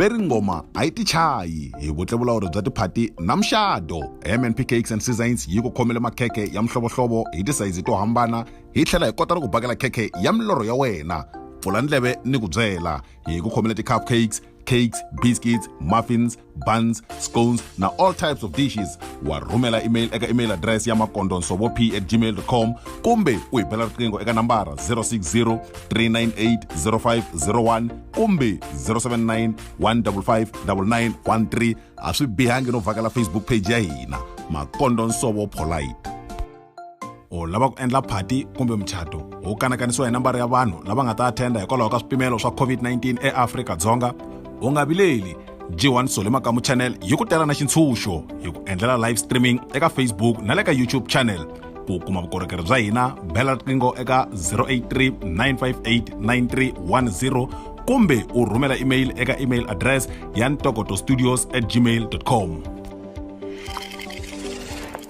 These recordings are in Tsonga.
ve ri ngoma a yi tichayi hi vutlevulawuri bya tiphati na muxado mnp cakes and seasons yi ku khomele makhekhe ya mihlovohlovo hi tisayizi to hambana hi tlhela hi kota ni ku bakela khekhe ya milorho ya wena pfula ndleve ni ku byela hi ku khomele ti-cup cakes cakes biscuits muffins buns scones na all types of dishes wa rhumela email eka email address ya makondonsovo p at gmail com kumbe u hi bela riqingho eka nambara 060 398 0501 kumbe 079 155 9913 a swi bihangi no vhakela facebook page ya hina makondonsovo polite u lava ku endla phati kumbe muchato wu kanakanisiwa hi nambara ya vanhu lava nga ta athenda hikwalaho ka swipimelo swa covid-19 eafrika-dzonga u nga vileli g1 sole makamu channel yi ku tela na xintshunxo hi ku endlela live streaming eka facebook na le ka youtube channel ku kuma vukorhokeri bya hina bela riqingho eka 083 958 9310 kumbe u rhumela email eka email address ya ntokoto studios at gmail com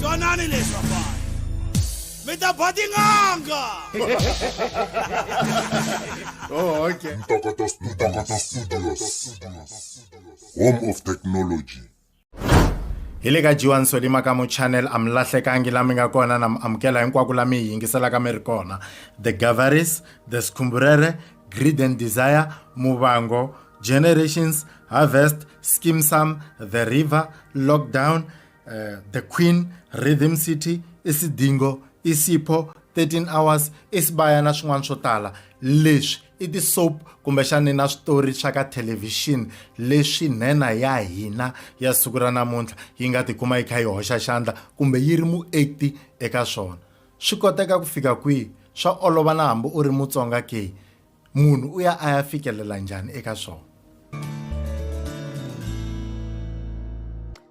twanani leswi vafana mi ta ba tin'anga oh, okay. Ntokoto Studios. Home of Technology. hi le ka jiwani solima ka muchannel a mi lahlekangi la mi nga kona na mi amukela hinkwako la mi hi yingiselaka mi ri kona the gavaris the skhumburere greed and desire muvango Generations, Harvest, Skeem Saam, The River, Lockdown, uh, The Queen, Rhythm City, Isidingo, Isipho, 13 hours isibaya na swin'wana swo tala leswi i ti-soap kumbexani na switori swa ka thelevhixini leswi nhenha ya hina ya siku ra namuntlha yi nga tikuma yi kha yi hoxa xandla kumbe yi ri muekti eka swona swi koteka ku fika kwihi swa olova na hambi u ri mutsonga ke munhu u ya a ya fikelela njhani eka swona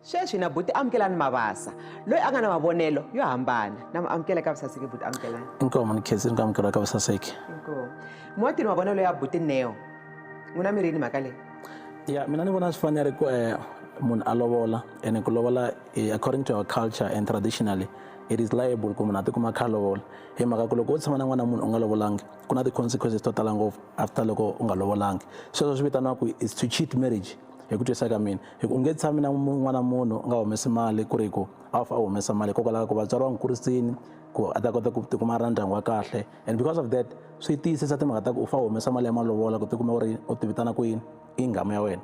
sweswi na buti amukelani mavasa loyi a nga na mavonelo yo hambana na muamukela ka vusaseki buti amukelani inkomu ni khezi ni ku amukela ka vusaseki muwatini mavonelo ya buti neo n'wi na mirini mhaka leyi ya mina ni vona swi fanele ku um munhu a lovola and ku lovola eh, according to our culture and traditionally it is liable ku munhu a tikuma kha a lovola hi mhaka ku loko wo tshama na n'wana munhu u nga lovolanga ku na ti-consequences to tala ngopfu after loko u nga lovolangi sweswo swi vitaniwa ku is to cheat marriage hi ku twisisa ka mina hi ku u nge tshami na n'wana munhu u nga humesi mali ku ri ku a fa a humesa mali hikokwalaho ku vatswari va n'wi kurisini ku a ta kota ku tikuma a ri na ndyangu wa kahle and because of that swi tiyisisa timhaka ta ku u fa humesa mali ya malovola ku tikuma u ri u tivitana ku yini i nghamu ya wena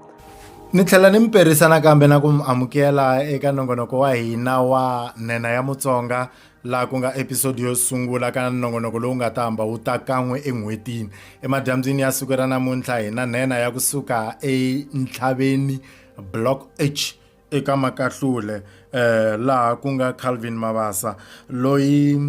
ni tlhela ni mi perisa nakambe na ku mi amukela eka nongonoko wa hina wa nena ya mutsonga laha ku nga episodi yo sungula ka nongonoko lowu nga ta hamba wu ta kan'we en'hwetini emadyambyini ya siku ra namuntlha hi na nhenha ya kusuka entlhaveni block h eka makahlule eh laha ku nga Calvin Mabasa loyi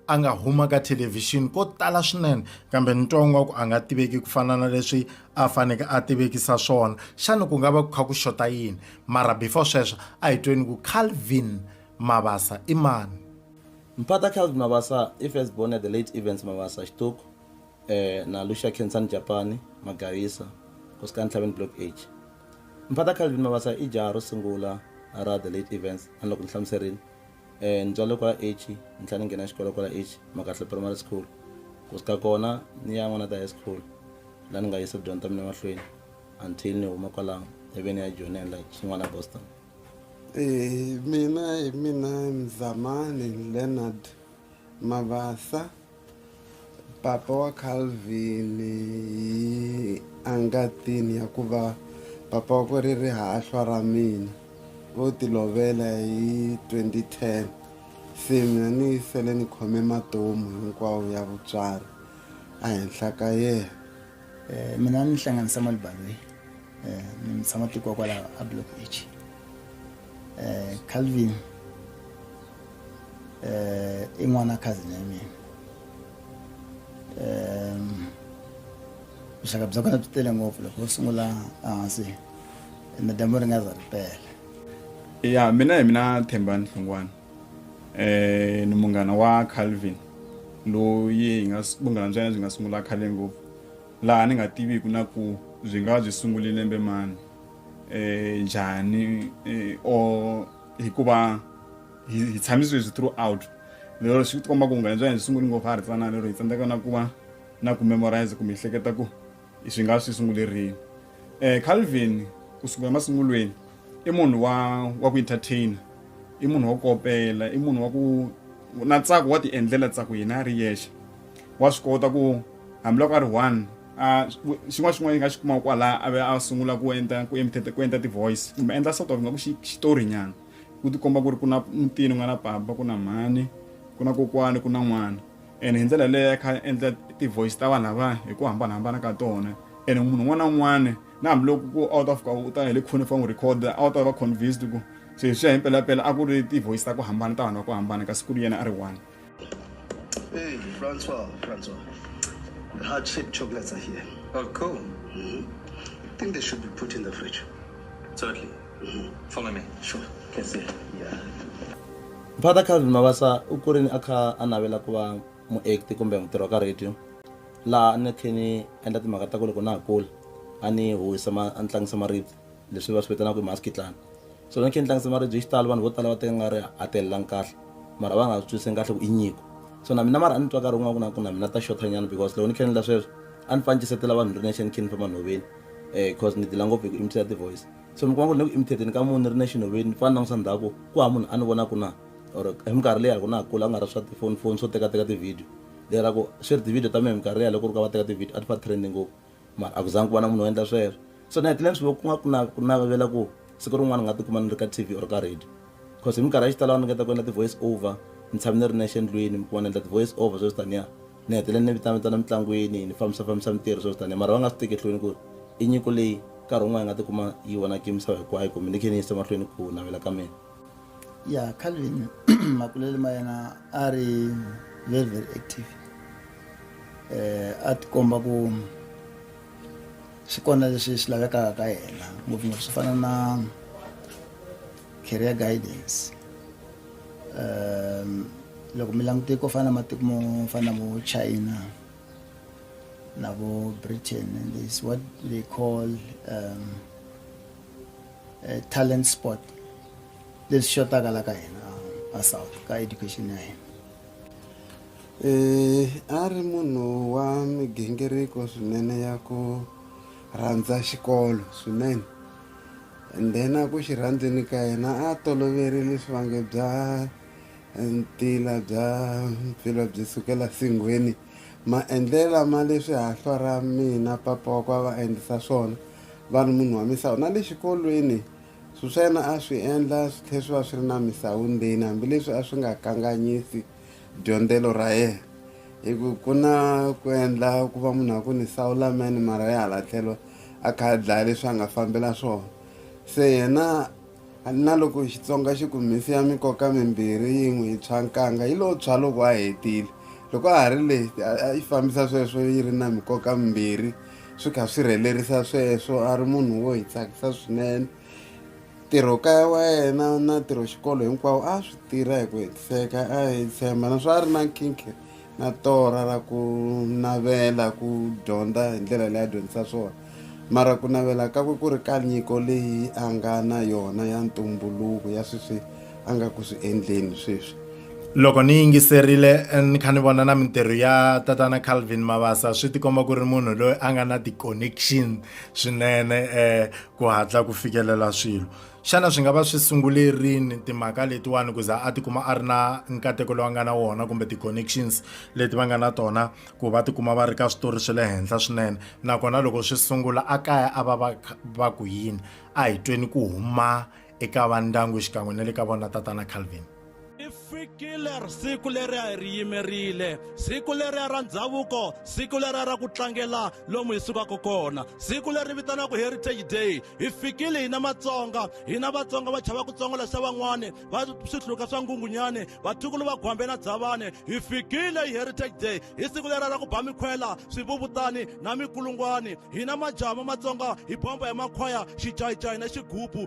a nga huma ka thelevhixini ko tala swinene kambe ntongo wa ku a nga tiveki ku fana na leswi a faneke a tivekisa swona xana ku nga va ku kha ku xota yini mara before sweswo a hi tweni ku Calvin Mabasa i mani? Mpata Calvin Mabasa i first born ya the late Evans Mabasa Xituku um na Lucia Khensani Japani Magayisa, Nkosikani Ntlhaveni Block H. Mpata Calvin Mabasa i jaha ro sungula ra the late Evans. Tani loko ni hlamuserile, um ni tswalele kwala H, ni tlhela ni nghena xikolo kwala H, Makahle Primary School. Ku suka kona ni ya N'wanata High School laha ni nga yisa tidyondzo ta mina emahlweni until ni huma kwalano ivi ni ya joyinela Xin'wana Boston. Eh, mina hi mina mzamani leonard mavasa papa wa calvin hi angatini ya ku va papa wa ku ri rihahlwa ra mina vo tilovela hi 2010 se mina ni sele ni khome matomu hinkwawo ya vutswari ehenhla ka yena Eh, mina ni hlanganisa malibaveni eh, ni mi tshama tiko kwalaho a block h eh, calvin eh, i n'wana cousin ya mina um vuxaka bya kona byi tele ngopfu loko u sungula ehansi na dyambu ri nga za ri pela ya mina hi mina thembani hlungwana eh ni munghana wa calvin loyi hi nga vunghana bya yena byi nga sungula khale ngopfu Laha ni nga tiviku na ku byi nga byi sungule lembe mani, njhani or hikuva hi hi tshami sweswi throughout lero swi tikomba ku vunghana bya hina byi sungule ngopfu ha ha ri tsanana lero hi tsandzeka na ku va na ku memoriser kumbe hi hleketa ku swi nga swi sungule rini. Calvin kusuka emasungulweni i munhu wa wa ku entertain i munhu wa ku kopela i munhu wa ku na ntsako wa ti endlela ntsako yena a ri yexe wa swi kota ku. hambiloko a ri one a xin'wana xin'wana yi nga xi kumaka kwalaho a ve a sungula ku endla ku emitete ku endla ti-voice kumbe endla sort of nga ku xitori nyana ku tikomba ku ri ku na mutini ku nga na papa ku na mhani ku na kokwani ku na n'wana ene hi ndlela yaleyo a kha a endla ti-voice ta vanhu lava hi ku hambanahambana ka tona ene munhu un'wana na un'wana na hambiloko ku a wu ta fika u ta hi le khone fa n'wi record a wu ta va convinced ku se hi swi ya hi mpelampela a ku ri ti-voice ta ku hambana ta vanhu va ku hambana kasi ku ri yena a ri one. Hey, Francois, Francois. The heart shaped chocolates are here. Oh, cool. Mm-hmm. I think they should be put in the fridge. Totally. Mm-hmm. Follow me. Sure. Can see. Yeah. Brother Calvin Mabasa u kurini a kha a navela ku va muekti kumbe mutirhi wa ka radio laha a ni khe ni endla timhaka ta ku loko na ha kula a ni huwisa a ni tlangisa maribye leswi va swi vitanaka hi maskitlana so ni khe ni tlangise maribye hi xitalo vanhu vo tala va teka nga ri a telelangi kahle mara va nga swi twisiseni kahle ku i nyiko so na mina mara a ni twa nkarhi wun'wana ku na ku na mina ta xotanyana because loko ni khe ni la sweswo a ni fanicisetela vanhu ri nexe ni khe ni famba nhoveni um eh, because ni dila ngopfu hi ku imitate ti-voice so mi kuma ku ri ni ku imitateni ka munhu ni ri nexe nhoveni ni fane langutisa ndhaku ku ha munhu a ni vona ku na or hi minkarhi leyi loko na ha kula a nga ri swa tifoni foni swo tekateka ti-video lera ku swi ri ti-video ta mina hi minkarhi leyi loko ri ka va teka ti-video a ti fa trending ngopfu mara a ku zangi ku va na munhu wo endla sweswo so ni hetile ni swi ku nga ku na ku navela ku siku rin'wana ni nga tikuma ni ri ka tv or ka radio because hi minkarhi ya xitalo a ni ngeta ku endla ti-voice over ni tshame ni ri nexe endlwini mi kuma ni endla ti-voice over sweswi taniya ni hetele ni vitanavitana mitlangwini ni fambisa fambisa mintirho sweswi taniya mara va nga swi teki ehlweni ku ri i nyiko leyi nkarhi wun'wana yi nga tikuma yi vonaka misava hinkwayo kumbe ni khe ni yisa mahlweni ku navela ka mina ya calvin makulelo ma yena a ri very very active eh a tikomba ku xi kona lexi xi lavekaka ka yena ngopfungopfu swi fana na career guidance um loko mi langute ko fana na matiko mo fana na vo china na vo britain and this what they call um eh, talent sport leswi xotaka la ka hina a south ka education ya hina um a ri munhu wa migingiriko swinene ya ku rhandza xikolo swinene and then a ku xi rhandzeni ka yena a toloverile swivange bya eh, ntila bya mpfila byi sukela singhweni Ma endlela ma leswi hahlwa ra mina papa wa kwa va endlisa swona vanhu munhu wa misawu na le xikolweni swi swa yena a swi endla swi tlhe swi va swi ri na misawu ndzeni hambileswi a swi nga kanganyisi dyondzelo ra yena hi ku ku na ku endla ku va munhu a ku ni sawu lamene mara ya hala tlhelo a kha a dlaya leswi a nga fambela swona se yena A ni na loko Xitsonga xi ku mhisi ya mikoka mimbirhi yi n'wi tshwa nkanga yi lo tshwa loko a hetile. Loko a ha ri leyi a yi fambisa sweswo yi ri na mikoka mimbirhi swi kha swi rhelerisa sweswo a ri munhu wo hi tsakisa swinene. Ntirho kaya wa yena na ntirho xikolo hinkwawo a swi tirha hi ku hetiseka a hi tshemba naswona a ri na nkhinkhi. na torha ra ku navela ku dyondza hi ndlela leyi a dyondzisa swona mara ku navela kakwe ku ri ka nyiko leyi a nga na yona ya ntumbuluko ya sweswi a nga ku swi endleni sweswi loko ni yingiserile eh, ni kha ni vona na mintirho ya tatana calvin mavasa swi tikomba ku ri munhu loyi a nga na ti-connection swinene um ku hatla ku fikelela swilo xana swi nga va swi sungule rini timhaka letiwani ku za a tikuma a ri na nkateko lowu nga na wona kumbe ti-connections leti va nga na tona ku va tikuma va ri ka switori swa le henhla swinene nakona loko swi sungula a kaya a va va va ku yini a hi tweni ku huma eka va ndyangu xikan'we na le ka vona tatana calvin ri fikile siku leri a hi ri yimerile siku leriya ra ndhavuko siku leriya ra ku tlangela lomu hi sukaka kona siku leri vitanaka heritage day hi fikile hina matsonga hina vatsonga va chava ku tsongola xa van'wani va swihluka swa ngungunyani vatukulu va gwambe na dzavane hi fikile hi heritage day hi siku leriya ra ku ba mikhwela swivuvutani na mikulungwani hina majama matsonga hi bomba hi makhwaya xijayijayi na xigubu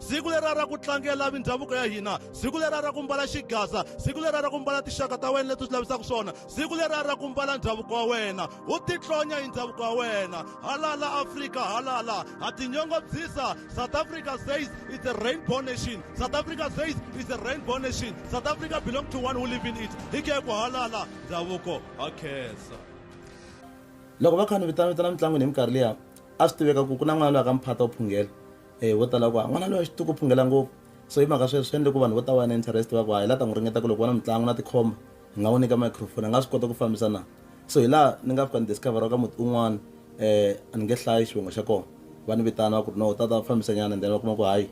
siku lera ra ku tlangela mindhavuko ya hina siku lera ra ku mbala xigaza siku lera ra ku mbala tinxaka ta wena leti u swi lavisaka swona siku lera ra ku mbala ndhavuko wa wena u titlonya hi ndhavuko wa wena halala afrika halala ha tinyongobyisa south africa says it's a rainbow nation south africa says it's a rainbow nation south africa belong to one who live in it hi ke ku halala ndhavuko ha khensa loko va kha ni vitana vitana mitlangwini hi minkarhi liya a swi tiveka ku ku na n'wana loyi a ka mphata u phungela e vo tala ku a n'wana loyi a xituku phungela ngopfu so hi mhaka sweswi swi endle ku vanhu vo ta va na interest va ku ha hi la ta n'wi ringeta ku loko va na mitlangu na tikhomba hi nga n'wi nyika microphone a nga swi kota ku fambisa na so hi laha ni nga fika ni discoveraka ka muti un'wana um a ni nge hlayi xivongo xa kona va ni vitana va ku ri no tata fambisa nyana then va kuma ku hayi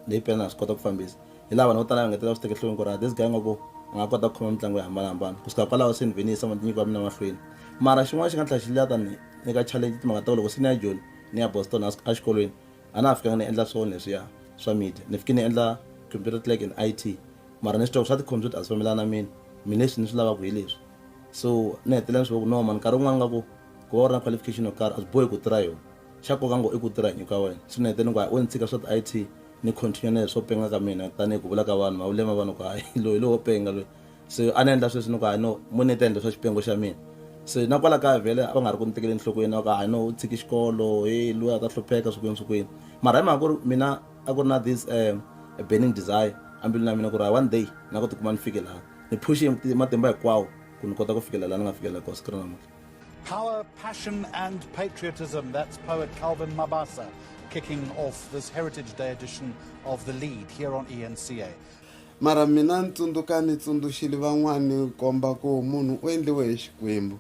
leyi pela na swi kota ku fambisa hi laha vanhu vo tala va ngetela swi tekehlweni ku ri this guy nga ku a nga kota ku khoma mitlangu yo hambanahambana ku suka kwalaho se ni vhe ni yisa matinyiko ya mina mahlweni mara xin'wana xi nga tlhela xi lata ni nyika challenge timhaka ta ku loko se ni ya joni ni ya Boston a a xikolweni a na ha fikanga ni endla swona leswiya swa media ni fike ni endla computer clerk in IT mara ni swi tiva swa ti-computer a swi fambelana na mina mi leswi ni swi lavaka hi leswi so ni hetelela ni swi ku no mani nkarhi wun'wana nga ku ku va u ri na qualification yo karhi a swi bohi ku tirha yona xa nkoka ngo i ku tirha hi nyiko ya wena so ni hetelela ni ku hayi o ni tshika swa ti-IT ni continue na leswo penga ka mina tanihi ku vula ka vanhu mavulema vanhu ku hayi loyi lowo penga loyi Se a ni endla sweswi ni ku hayi no mo ni ta endla swa xipengo xa mina se na kwala kaya vhele a va nga ri ku ni tekeli enhlokweni na ku hayi no u tshiki xikolo he loyi a ta hlupheka swi kwini swi kwini mara hi mhaka ku ri mina a ku ri na this um burning desire embilwini ya mina ku ri hayi one day na ku tikuma ni fike laha ni phushe matimba hinkwawo ku ni kota ku fikela laha ni nga fikela kona siku ra namuntlha Power, passion and patriotism. That's poet Calvin Mabasa kicking off this Heritage Day edition of The Lead here on ENCA. Mara mina ni tsundzuka ni tsundzuxile van'wana ni komba ku munhu u endliwe hi Xikwembu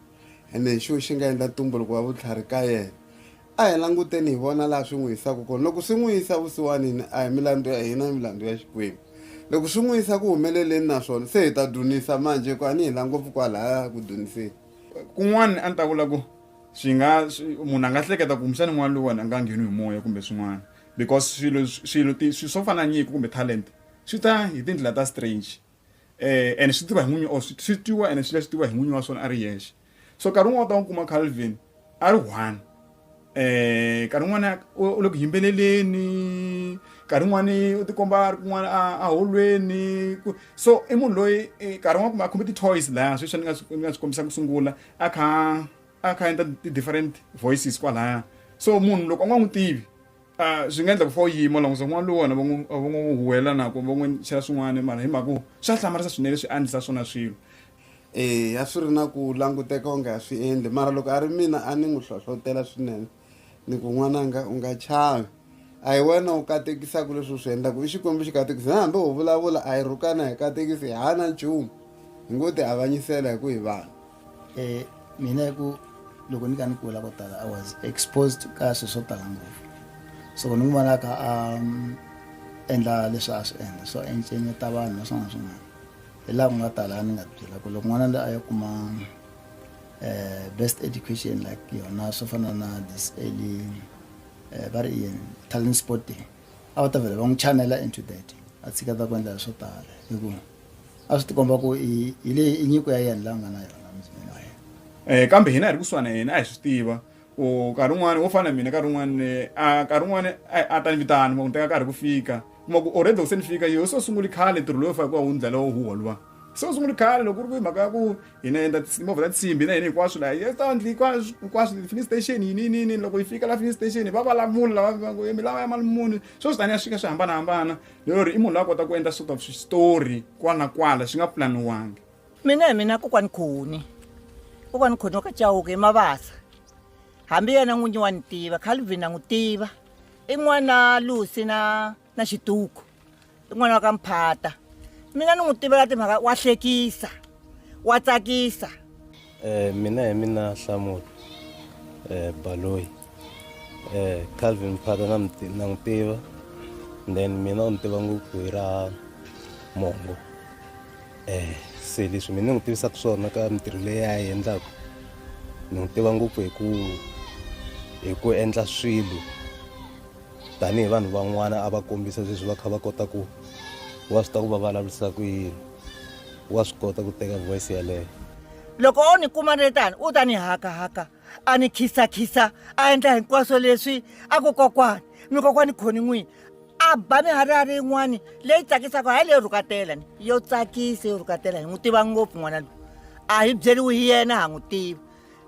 ene hi xo xi nga endla ntumbuluko wa vutlhari ka yena. A hi languteni hi vona laha swi n'wi yisaka kona. Loko swi n'wi yisa vusiwanini, a hi milandzu ya hina, i milandzu ya Xikwembu. Loko swi n'wi yisa ku humeleleni naswona, se hi ta dzunisa manjhe hikuva a ni hila ngopfu kwalahaya ku dzuniseni. Kun'wana a ni ta vula ku swi nga munhu a nga hleketa kumbexana n'wana loyiwani a nga ngheniwi hi moya kumbe swin'wana. because swilo swilo swilo swo fana na nyiko kumbe talent swi ta hi tindlela ta strange um and swi tiva hi n'winyi or swi tiwa and swi leswi tiwa hi n'winyi wa swona a ri yexe so nkarhi wun'wana u ta n'wi kuma calvin a ri one um nkarhi wun'wana u le ku yimbeleleni nkarhi wun'wani u tikomba a ri kun'wana a holweni so i munhu loyi eh, nkarhi wun'wana kumbe a khome ti-toys laya sweswi ni nga swi ni nga swi kombisa ku sungula a kha a kha endla ti-different voices kwalaya so munhu loko a nga n'wi tivi um swi nga endla ku fa u yima langusa n'wana lowu wena va n'wi va n'wi huwelela na ku va n'wi chela swin'wana mara hi mhaka ku swa hlamarisa swinene swi andzisa swona swilo eya swi ri na ku languteka onge a swi endli mara loko a ri mina a ni n'wi hlohlotela swinene ni ku n'wananga u nga chavi a hi wena u katekisaka leswi u swi endlaka i xikwembu xi katekisi na hambi ho vulavula a hi rhukana hi katekisi hi hana nchumu hi ngo ti avanyisela hi ku hi vanhu um mina hi ku loko ni ka ni kula ko tala i was exposed ka swi swo tala ngopfu so ni n'wi vonaka a um, endla leswi a swi endla so encenyeta vanhu na swin'wana swin'wana hi laha ku nga tala ni nga byela ku loko n'wana loyi a ya kuma uh, best education like yona swo fana na this early uh, va ri yini talent sporting a va ta vele va n'wi chanela into that a tshiketa ku endla swo tala hikuva a swi tikomba ku hi leyi i nyiko ya yena la nga na yona muzimini wa yena um kambe hina hi ri kusuhana yena a hi swi tiva ku nkarhi wun'wani wo fana na mina nkarhi wun'wani eh, a nkarhi wun'wani a ta ni vitana ma ku ni teka nkarhi ku fika kuma ku already loko se ni fika yo se u sunguli khale ntirho lowu fane ku va wu ndlela wo huwa luwa se u sunguli khale loko ku ri ku hi mhaka ya ku hi na endla timovha ta tsimbi na hina hinkwaswo laha yes ta endli hinkwaswo hinkwaswo fini station yini yini yini loko yi fika la fini station va va lamula lava va ngo mi lava ya mali muni swo swi tani ya swi fika swi hambanahambana lero ri i munhu la kota ku endla sort of switori kwala na kwala swi nga pulaniwangi mina hi mina kokwani khoni kokwani khoni wa ka chawuke emavasa hambi yena n'winyi wa ni tiva calvin a n'wi tiva i n'wana lusi na na xiduku i n'wana wa ka mphata mina ni n'wi tivela timhaka wa hlekisa wa tsakisa um mina hi mina hlamulo um eh, baloyi um eh, calvin mphata na n'wi tiva then mina u ni tiva ngopfu hi ra mongo um se leswi mina ni n'wi tivisaka swona ka mintirho leyi a yi endlaka ni n'wi tiva ngopfu hi ku hi ku endla swilo tanihi vanhu van'wana a va kombisa sweswi va kha va kota ku wa swi ta ku va vulavurisa ku yini wa swi kota ku teka voice yeleyo loko o ni kuma ni ri tani u ta ni hakahaka a ni khisakhisa a endla hinkwaswo leswi a ku kokwani mi kokwani khoni n'wini a ba miharihari yin'wani leyi tsakisaka hayi leyo rhukatela ni yo tsakisa yo rhukatela hi n'wi tiva ngopfu n'wana loyi a hi byeriwi hi yena ha n'wi tivi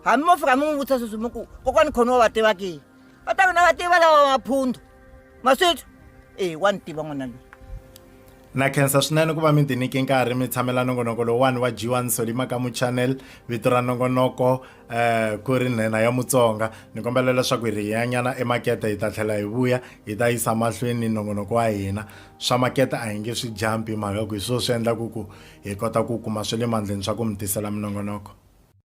hambi mo fika mi n'wi vutisa sweswi mi ku kokwani khoni wa va tiva kihi va ta vona va tiva lava maphundu maswithu e wa ni tiva n'wana loyi na khensa swinene ku va mi tinike nkarhi mi tshamela nongonoko lowuwani wa jiwa nsoli makamu channel vito ra nongonoko um ku ri nhenha ya mutsonga ni kombela leswaku hi ri hi yanyana emakete hi ta tlhela hi vuya hi ta yisa mahlweni nongonoko wa hina swa makete a hi nge swi jampi mhaka ku hi swo swi endlaku ku hi kota ku kuma swa le mandleni swa ku mi tisela minongonoko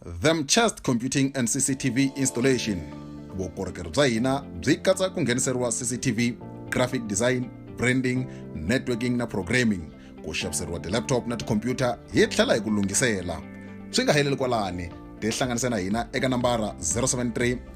Themchest Computing and CCTV Installation vukorhokeri bya hina byi katsa ku ngheniseriwa CCTV graphic design branding networking na programming ku xaviseriwa ti-laptop na tikhompyuta hi tlhela hi ku lunghisela swi nga heleli kwalani tihlanganise na hina eka nambara 073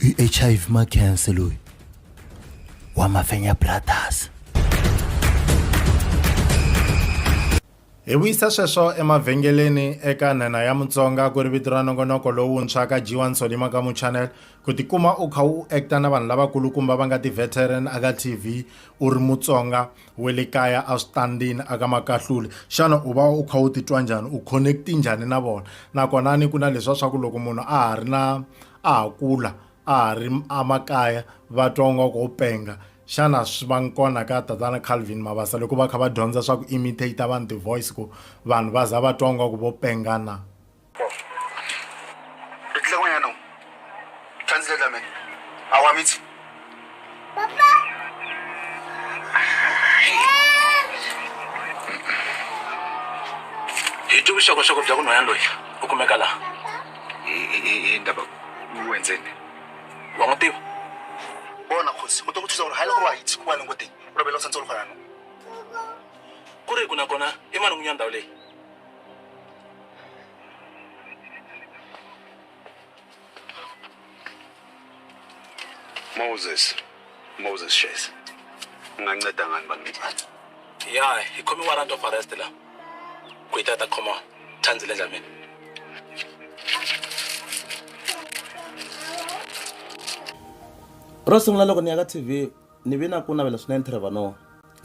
i hiv makhense loyi wa mafenya brothers hi vuyisa sweswo emavhengeleni eka nhenha ya mutsonga ku ri vito ra nongonoko lowuntshwa ka g1 solima ka muchannel ku tikuma u kha u acta na vanhu lavakulukumba va nga ti-veteran aka tv u ri mutsonga we le kaya a swi tandini a ka makahluli xana u va u kha u titwa njhani u connect-i njhani na vona nakona ni ku na leswa swa ku loko munhu a ha ri na a ha kula a ha ri amakaya va twa u nga ku u penga xana swi va ngi kona ka tatana calvin mabasa loko va kha va dyondza swa ku imitate vanhu ti-voice ku vanhu va za va twa u nga ku vo penga na Re tlile mo yanong. Translate la me. A wa mitsi. Papa. Hi ti vuxokoxoko bya kunhwanyana loyi u kumeka laha. Hi ndaba u endzeni. Wa n'wi tiva? Bona khosi, u to ku thusa ku ri hayi loko va hi tshiki kwale ngoteni. U rovela u tsantsolo kona. Ku ri ku nakona i mani n'winyana ndhawu leyi? Moses Moses Shesi unganceda ngani bangincane ya ikhoma i-warrant of arrest la kuyitata khoma thandzile dlamini ro sungula loko ni ya ka tv ni vi na ku navela swinene trevor noa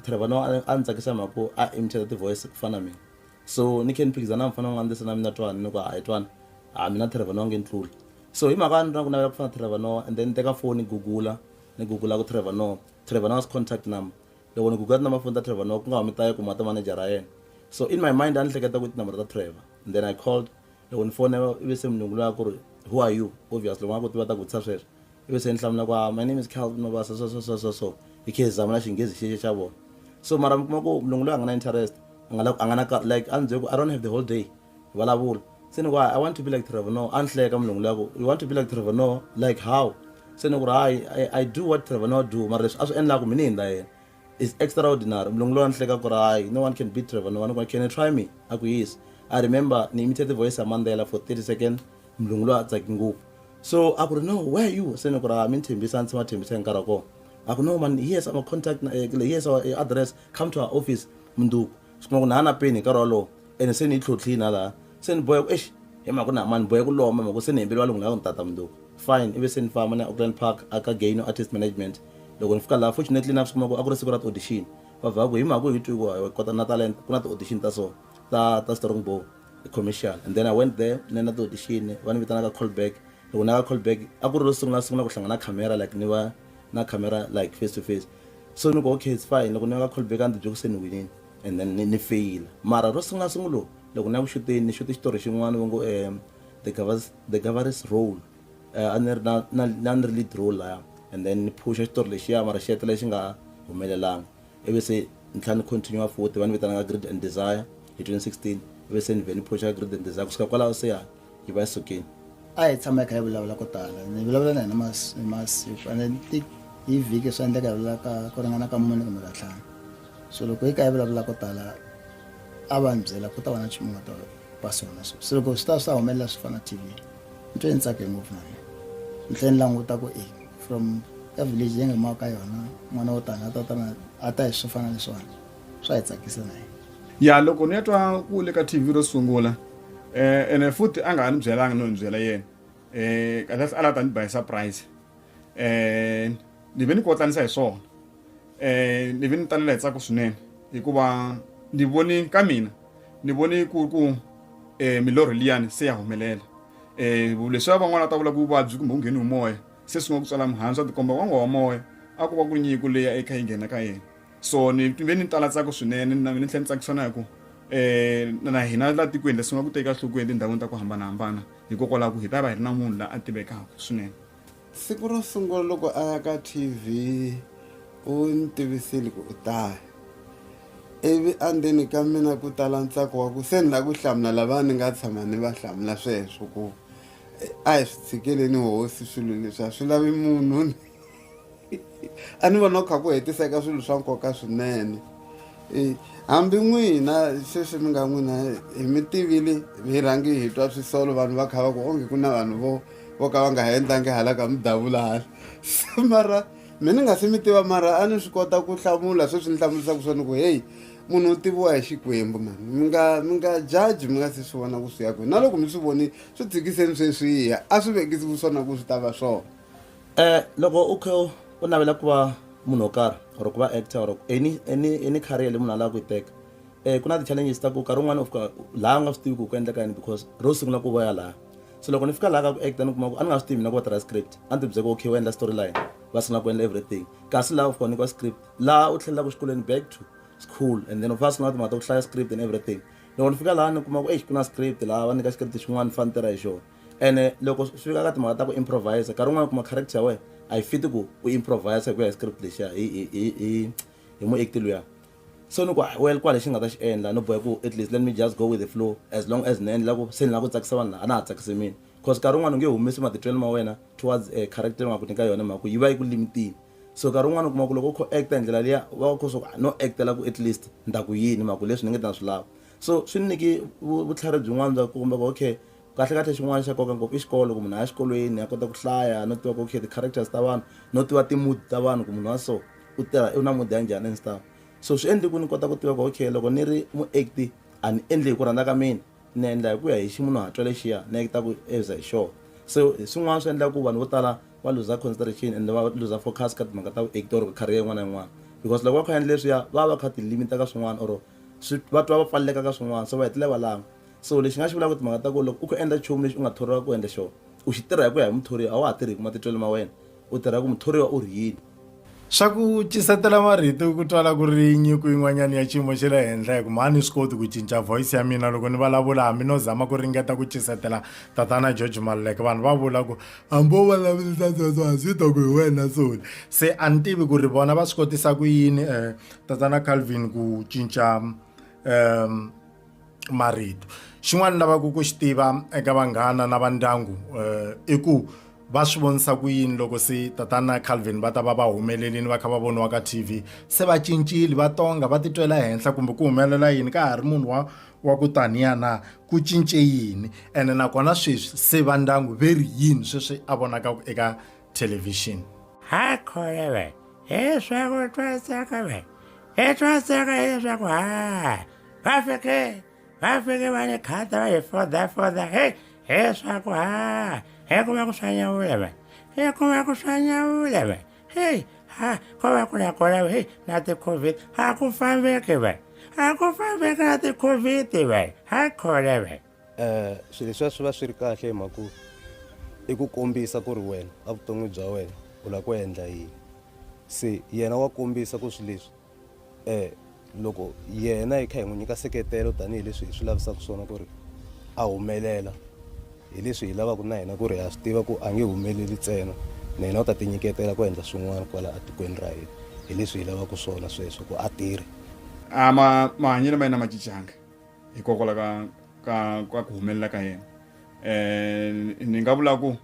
trevor noa a ni tsakisa mhaka ku a imichela ti-voice ku fana na mina So ni khe ni phikizana na mufana wa n'wina ni lesana mina twani ni ku hayi twani a mina Trevor Noah nge ni tluli so hi mhaka ya ni ri na ku navela ku fana Trevor Noah and then ni teka foni ni gugula ni gugula ku Trevor Noah Trevor Noah's contact number loko ni gugula tinambara foni ta Trevor Noah ku nga humi ta Yeko mara ta manager ra yena so in my mind a ni hleketa ku i tinambara ta Trevor and then I called loko ni fona ivi se munhu loyi a ku ri who are you obviously va nga koti va ta ku vutisa sweswo ivi se ni hlamula ku ah, my name is calvin mabasa so so so so so hi khe hi zama na xinghezi xexo xa vona so mara mi kuma ku munhu loyi a nga na interest a nga a nga na like a ni byele ku i don't have the whole day vulavula se ni ku i want to be like trevor no a ni hleka munhu loyi ku you want to be like trevor no like how se ni ku ri hayi i do what trevor no do mara leswi a swi endlaku mina hi ndla yena is extraordinary mlungu lowa ni hleka ku ri hayi no one can beat trevor no one ku can you try me a ku yes i remember ni imitate voice ya mandela for 30 second mlungu lowa a tsaki ngopfu so a ku ri no where are you se ni ku ri mi ni thembisa ni tshama thembisa hi nkarhi wa kona a ku no man yes ama contact eh, yes our eh, address come to our office munduku swi kuma ku na ha na peni hi nkarhi wolowo ene se ni yi tlhotlhini ha laha se ni boheka eish hi mhaka ku na mani boheka ku lomba mhaka se ni hembele valungu lava ni tata mundzuku fine ivi se ni famba na auckland park aka gaino artist management loko ni fika laha fortunately na swi kuma ku a ku ri siku ra ti-audition va vha ku hi mhaka hi twi ku hi kota na talent ku na ti-audition ta so ta ta strong bow commercial and then i went there ni na ti-audition va ni vitanaka callback loko na ka callback a ku ri ro sungula sungula ku hlangana camera like ni va na camera like face to face so ni ku okay it's fine loko ni va ka callback a ni tibyele ku se ni winile and then ni ni feyila mara ro sungula sungulo loko ni ya ku xuteni ni xuti xitori xin'wana va ngo um the govers the govers role um a ni ri na na na ni ri lead role laya and then ni phusha xitori lexiya mara xi hetelela xi nga humelelanga ivi se ni tlhela ni continue futhi va ni vitanaka greed and desire hi 2016 ivi se ni vhe ni phusha greed and desire kusuka kwalaho se yani hi va sukeni a hi tshama hi kha hi vulavula ko tala ni vulavula na hina masiku ande ti hi vhiki swi endleka hi vulaka ku ringana ka mune kumbe ka ntlhanu so loko hi ka hi vulavula ko tala a va ni byela ku ta va na nchumu nga ta va swona so se loko swi ta swi ta humelela swi fana tv ni twe ni tsake ngopfu na mina ni tlhe ni languta ku e from ka village leyi nga maka ka yona n'wana wo tani a ta ta a ta hi swi fana leswiwani swa hi tsakisa na yena ya loko ni ya twa ku le ka tv ro sungula eh ene futhi a nga ha ni byelanga no ni byela yena eh kahle a la ta ni ba hi surprise eh ni ve ni kotlanisa hi swona eh ni ve ni talela hi tsako swinene hikuva ni voni ka mina ni voni ku ku eh milorho liyani se ya humelela eh leswi van'wana ta vula ku vuvabyi kumbe ku ngheni hi moya se swi nga ku tswala mihandzu a tikomba wanga wa moya a ku va ku nyiko leya ekha yi nghena ka yena so ni ve ni tala tsaka swinene na mina ni tlhe ni tsakisa na hi ku um na hina la tikweni leswi nga ku teka enhlokweni etindhawini ta ku hambanahambana hikokwalaho ku hi ta va hi ri na munhu la a tivekaka swinene siku ro sungula loko a ya ka tv u ni tivisile ku u taya ivi andzeni ka mina ku tala ntsako wa ku se ni la ku hlamula lava ni nga tshama ni va hlamula sweswo ku a hi swi tshikeleni hosi swilo leswi a swi lavi munhu a ni vona ku kha ku hetiseka swilo swa nkoka swinene e, hambi n'wina sweswi mi nga n'wina hi mi tivile hi rhangi hi twa swisolo vanhu va kha va ku onge ku na vanhu vo vo ka va nga ha endlangi hala ka mi davula hala mara mi ni nga se mi tiva mara a ni swi kota ku hlamula sweswi ni hlamulisaka swona ku heyi munhu u tiviwa hi xikwembu mani mi nga mi nga jaji mi nga se swi vona ku swi ya kwihi na loko mi swi vonile swi tshikiseni sweswiya a swi vekisi ku swona ku swi ta va swona um loko u kha u navela ku va munhu wo karhi or ku va actor or any any any career leyi munhu a lava ku yi teka um ku na ti-challenges ta ku nkarhi wun'wani u fika laha u nga swi tivi ku ku endleka yini because ro sungula ku voya laha so loko ni fika laha ka ku actor ni kuma ku a ni nga swi tivi mina ku va tirha script a ni tibyeke okay u endla story line va sungula ku endla everything kasi laha u fika u nyikiwa script laha u tlhelelaka xikolweni back to school and then u fa sungula timhaka ta ku hlaya script and everything loko ni fika laha ni kuma ku eyi ku na script laha va nyika script xin'wana ni fane ni tirha hi xona ene loko swi fika ka timhaka ta ku improvise nkarhi wun'wana kuma character ya wena a yi fiti ku u improvise hi ku ya hi script lexiya hi hi hi hi hi muekti luya so ni ku well kwa lexi nga ta xi endla no bohe ku at least let me just go with the flow as long as ni endla ku se ni lava ku tsakisa vanhu a na ha tsakisi mina cause nkarhi wun'wana u nge humesi matitwelo ma wena towards a eh, character nga ku nyika yona mhaka ku yi va yi ku limitile so nkarhi wun'wana u kuma ku loko u kho acta hi ndlela liya u va u kho swa ku ah, no actela ku at least ni ta ku yini mhaka ku leswi ni nge ta na swi lava so swi ni nyiki vutlhari byin'wana bya ku komba ku okay Kahlekahle xin'wana xa nkoka ngopfu i xikolo ku munhu a ya xikolweni a kota ku hlaya no tiva ku okay ti-characters ta vanhu no tiva ti-mood ta vanhu ku munhu wa so u tirha u na mood ya njhani and stuff so swi endle ku ni kota ku tiva ku okay loko ni ri mu-act-i a ni endli hi ku rhandza ka mina ni endla hi ku ya hi ximunhuhatwa lexiya ni act-aku as hi xoho so hi swin'wana swi endlaka ku vanhu vo tala va luza consideration ende va luza focus ka timhaka ta vu-act-i or career yin'wana na yin'wana because loko va kha va endla leswiya va va va kha ti limit-a ka swin'wana or swi va twa va pfaleleka ka swin'wana so va hetelela va langa. So lexi nga xi vulaka timhaka ta ku loko u kho endla nchumu lexi u nga thoriwa ku endla xona u xi tirha hi ku ya hi muthoriwa a wa ha tirhi hi ku matitwelo ma wena u tirha ku muthoriwa u ri yini swa ku cisetela marito ku twala ku ri nyiko yin'wanyana ya xiyimo xa le henhla hi ku mhani swi koti ku cinca voice ya mina loko ni vulavula hambi no zama ku ringeta ku cisetela tatana george maluleke vanhu va vula ku hambi wo vulavurisa sweswo a swi ta ku hi wena soni se a ni tivi ku ri vona va swi kotisa ku yini um tatana calvin ku cinca um marito xin'wana lavaka ku xi tiva eka vanghana na va ndyangu eh, i ku va swi vonisa ku yini loko se tatana calvin va ta va va humelelini va kha va voniwa ka tv se va cincile va tonga va titwela henhla kumbe ku humelela yini ka ha ri munhu wa wa ku taniya na ku cince yini ene nakona sweswi se va ndyangu ve ri yini sweswi a vonaka eka thelevhixini hakhole ve hi swaku twasaka ve hi twasaka hi swaku ha vafike vafike va ni khata va hi fodafoda he he swa ku ha he ku va ku swa nyawula va he ku va ku swa nyawula va he ha ko va ku na kona va he na ti-covid ha ku fambeki va ha ku fambeki na ti-covid va ha khona va um swilo leswiya swi va swi ri kahle hi mhaka ku i ku kombisa ku ri wena a vuton'wini bya wena u lava ku endla yini se yena wa kombisa ku swi leswi um loko yena hi kha hi n'wi nyika seketelo tanihileswi hi swi lavisaka swona ku ri a humelela hi leswi hi lavaka na hina ku ri ha swi tiva ku a nge humeleli ntsena na hina u ta tinyiketela ku endla swin'wana kwala etikweni ra hina hi leswi hi lavaka swona sweswo ku a tirhi a ma mahanyelo ma yena ma cincanga hikokwalaho ka ka ka ku humelela ka yena um ni nga vula ku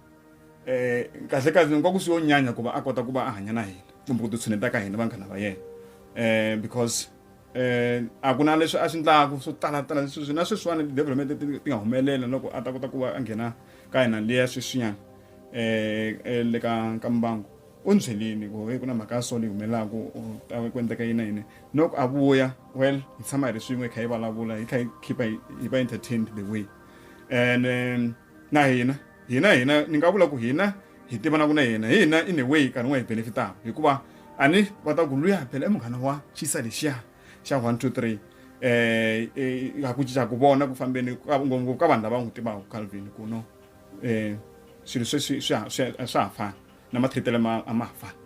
eh kahle kahle nkoka swi yo nyanya ku va a kota ku va a hanya na hina kumbe ku titshuneta ka hina vanghana va yena eh because eh a ku na leswi a swi ndlaku swo tala tala leswi na sweswiwani development ti nga humelela loko a ta kota ku va a nghena ka hina liya sweswinyana eh, eh le ka ka mbango u ni byelini ku ku na mhaka ya solo yi humelelaku ta ku endleka yini na yini loko a vuya well hi tshama hi ri swin'we hi kha hi vulavula hi kha hi khipa hi va entertained the way and um, na hina hina hina ni nga vula ku hina hi tivanaku na yena hi hina in a way karhi n'wa hi benefitaka hikuva a ni va ta ku luya phela i munghana wa xisa lexiya xa one two three eh, eh ha ku cinca ku vona ku fambeni ngopfu ka vanhu lava n'wi tivaka calvin ku no um swilo sweswi swa ha fani na mathitele ma a ma ha fani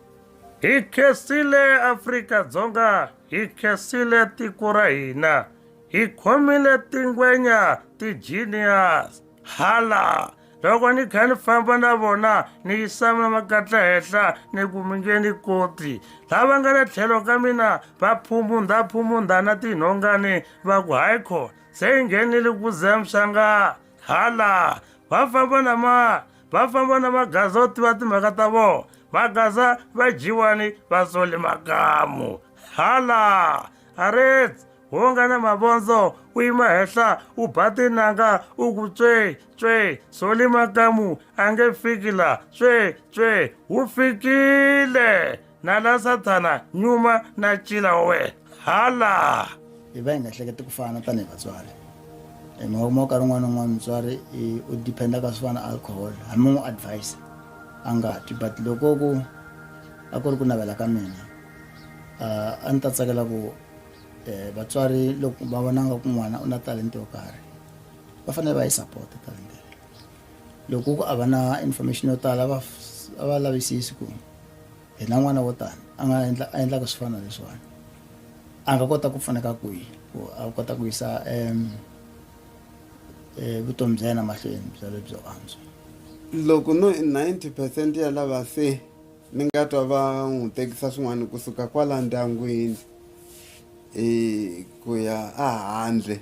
hi khensile afrika dzonga hi khensile tiko ra hina hi khomile tingwenya ti-genius hala loko ni kha ni famba na vona ni yisama makatla henhla ni ku mi nge ni koti lava nga le tlhelo ka mina va phumundha phumundha na tinhongani va ku hayi khona se yi nghenile ku zemshanga hala va famba na ma va famba na magaza yo tiva timhaka ta vona magaza va dyiwani va sole makamu hala arets wo nga na mavondzo u yima henhla u ba tinanga u ku tswe tswe soli makamu a nge fiki la tswe tswe wu fikile na la sathana nyuma na cila wa wena hala hi va hi nga hleketi ku fana tanihi vatswari hi mhaka kuma nkarhi un'wana un'wana mutswari u dependa ka swo fana alcohol hambi n'wi advise a nga twi but loko ku a ku ri ku navela ka mina a ni ta tsakela ku eh, vatswari loko va vonanga ku n'wana u na talenta yo karhi va fanele va yi sapota talenta loko ku a va na information yo tala va a va lavisisi ku hi na n'wana wo tani a nga endla a endlaka swi fana leswiwani a nga kota ku pfuneka kwihi ku a kota ku yisa um vutomi bya yena mahlweni bya lebyo antswa loko no ninety percent ya lava se ni nga twa va n'wi tekisa swin'wana kusuka kwala ndyangwini i ku ya ehandle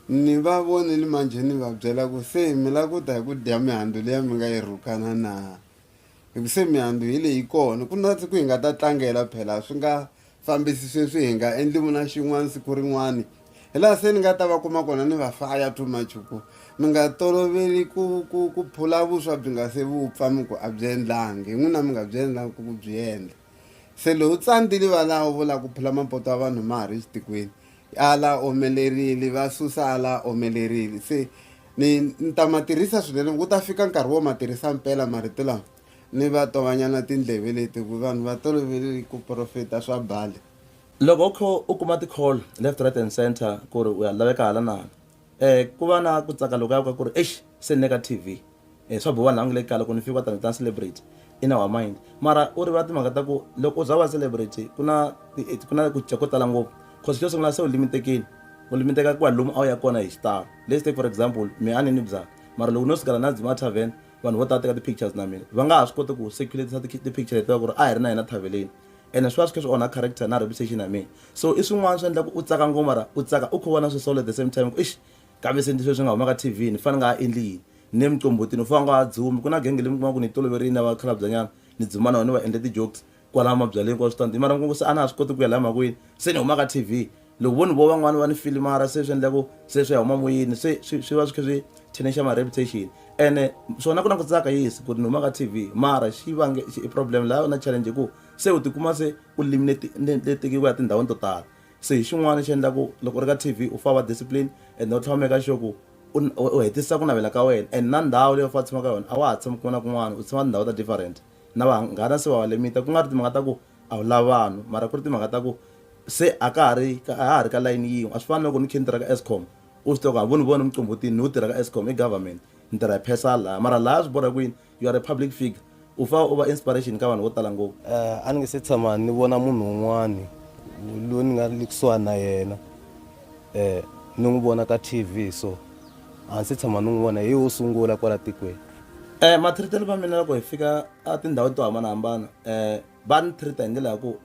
ni va vonile manjhe ni va byela ku se mi la ku ta hi ku dya mihandzu leya mi nga yi rhukana na hi ku se mihandzu hi leyi kona ku na siku hi nga ta tlangela phela swi nga fambisi sweswi hi nga endli muna xin'wana siku rin'wana hi laha se ni nga ta va kuma kona ni va faya too much ku mi nga toloveli ku ku ku phula vuswa byi nga se vupfa mi ku a byi endlangi hi n'wina mi nga byi endlangi ku byi endla se lowu tsandzili va laha u vula ku phula mapoto ya vanhu ma ha ri xitikweni a la omelerile va susa a la omelerile se ni ni ta ma tirhisa swinene ku ta fika nkarhi wo ma tirhisa mpela marito lama Ni va to va nyana tindleve leti ku vanhu va tolovele ku profeta swa bali. Loko u kha u kuma ti call left right and centre ku ri u ya laveka hala na hala eh ku va na ku tsaka lokuya ka ku ri eish se ni le ka TV eh swa boha laha u nga le kaya loko ni fika kwatano ni ta ni celebrity in our mind mara u rivala timhaka ta ku loko u za u va celebrity ku na ku na ku cinca ko tala ngopfu cause xo sungula se u limitekini u limiteka ku ya lomu a wu ya kona hi xitalo let's take for example me a ni nwi byalwa mara loko no sukela na dzima a tarven vanhu vo tala teka ti-pictures na mina va nga ha swi koti ku circulatisa ti-picture leti va ku ri a hi ri na hina thaveleni ene swi va swi kha swi onha character na reputation ya mina so i swin'wana swi endlaku u tsaka ngoma ra u tsaka u kho vona swi solo at the same time ku ixi kambe se ndzi sweswi nga huma ka tv ni fane nga ha endli yini ni le muqombhotini u fane nga ha dzumi ku na genge leyi mi kuma ku ni yi toloverini ya vakhalabya nyana ni dzuma na yona ni va endle ti-jokes kwala mabyaleni kwa switandi mara nkungu se a na ha swi koti ku ya laha makwini se ni huma ka tv loko vo ni vo van'wani va ni filimara se swi endla ku se swi ya huma moyeni se swi va swi kha swi thinexi ma reputation ene swona ku na ku tsaka yisi ku ri ni huma ka tv mara xi vange i problem laha na challenge ku se u tikuma se u limi leti letiki ku ya tindhawini to tala se hi xin'wana xi endla ku loko u ri ka tv u fa va discipline and u tlhava meka sure ku u hetisa ku navela ka wena and na ndhawu leyi u fa tshamaka yona a wa ha tshami kun'wana na kun'wana u tshama tindhawu ta different na vanghana se va va limit ku nga ri timhaka ta ku a wu lava vanhu mara ku ri timhaka ta ku se a ka ha ri a ha ha ri ka layini yin'we a swi fani loko ni khe ni tirha ka escom u swi tiva ku a vo ni vona muqombhotini ni wu tirha ka escom i government ni tirha hi phesa laha mara laha swi borha kwini you are a public figure u fa u va inspiration ka vanhu vo tala ngopfu eh, a ni nge se tshama ni vona munhu un'wani loyi ni nga le kusuhani na yena um ni n'wi vona ka tv so a ndzi tshama ni n'wi vona hi wo sungula kwala tikweni um mathiritelo va mina loko hi fika a tindhawini to hambanahambana um va ni thirita hi ndlela ya ku